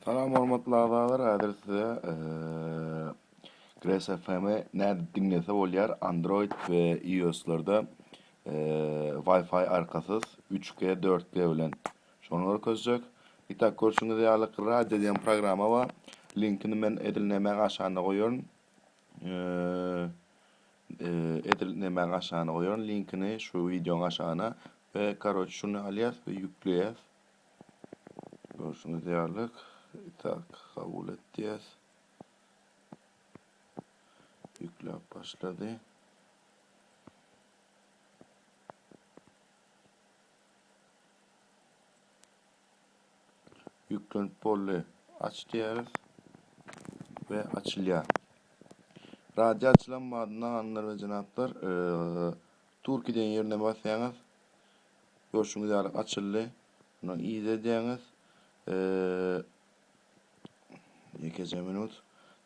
Salam hormatly agzalar häzir size Grass FM-i näde diňlese bolýar Android we IOS-larda Wi-Fi arkasyz 3G 4G bilen şony görkezjek. Itak görşüňiz ýaly radio diýen programma bar. Linkini men edil nämäň aşagynda goýaryn. Edil nämäň aşagynda goýaryn linkini şu wideoň aşagyna we karoç şuny alýas we ýükleýäs. Görşüňiz ýalyk, itak kabul et diýýäs. Ýükläp başlady. Ýüklenip boldy. Aç diýýäris we açylýar. Radio açylan badyna, hanlar we jenaplar, Turkey diýen ýerine basýaňyz, Görşüňiz ýaly açyldy. Mundan idedýäňiz. Ýekeje minut.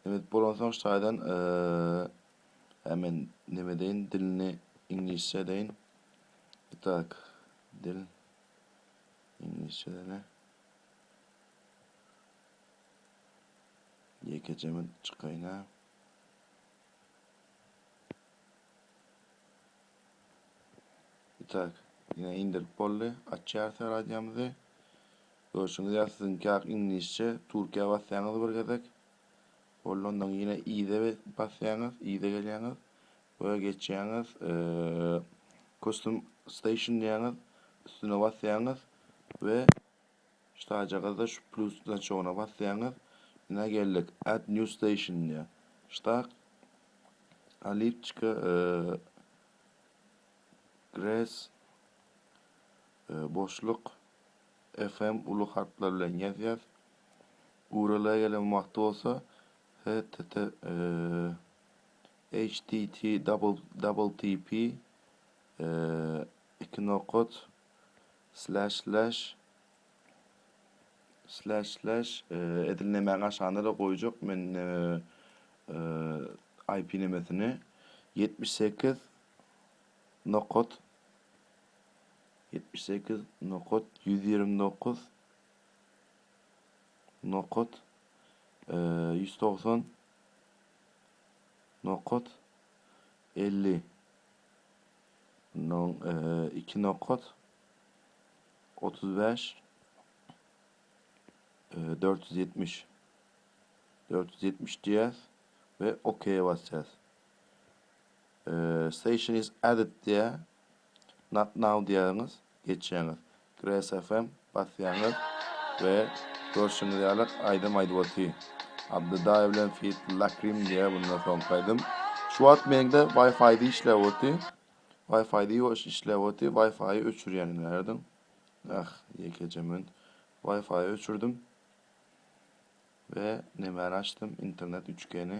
Nebet bolansoň şaýdan e, men neme deýin, dilini iňlisçe edeýin. Itaak, dil iňlisçe edeli. Ýekeje minut çykaýyn. Itak, ine indirip boldy. Açýarys radiomyzy. Görşüňiz ýaly siziňkak iňlisçe. Türkiýä basýaňyz bir gezek. Boldy ondan ýene yza basýaňyz, yza gelýäňiz we geçýäňiz custom station diýýäňiz. Üstüne basýaňyz we Ştaýjagazda şu plus znaçogyna basýaňyz, Ine geldik, Add new station diýýär. Ştak, Alipçika, Gres, boşluk, FM uly harplar bilen ýazýas. URL gelen wagty bolsa http, http, double double tp, iki nokat, Slash slash Slash slash edil nemäň aşagynda-da goýjak men IP nemesini ýetmiş sekiz nokat ýetmiş sekiz nokat ýüz ýigrimi dokuz nokat ýüz togsan nokat elli Nol, iki nokat, otuz bäş, dört ýüz ýetmiş. Dört ýüz ýetmiş diýýäs we OK basýas. Station is added diýýär. Not now diýýäňiz. geçýäňiz. Gresfm basýaňyz we görşüňiz ýaly aýdym aýdyp oty. Abdydaýew bilen feat Lakrim diýýä bundan soňky aýdym. Şu wagt meňde Wi-Fi-de işläp oty. Wi-Fi-de ýoş işläp oty. Wi-Fi-y öçürýänim närdin? Ah, ýekeje men. Wi-Fi-y öçürdim. We nemäni açdym? Internet 3G-ni.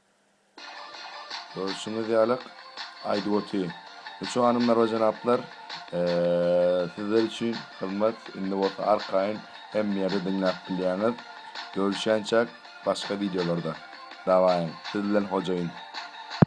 Görşüňiz ýalyk, aýdyp oty. Üç hanymlar we jenaplar, sizler üçin hyzmat indi bolsa arkaýyn hemme ýerde diňläp bilýäňiz. Görüşýänçäk başga wideolarda. Dawaýyň, siz bilen hojaýyn.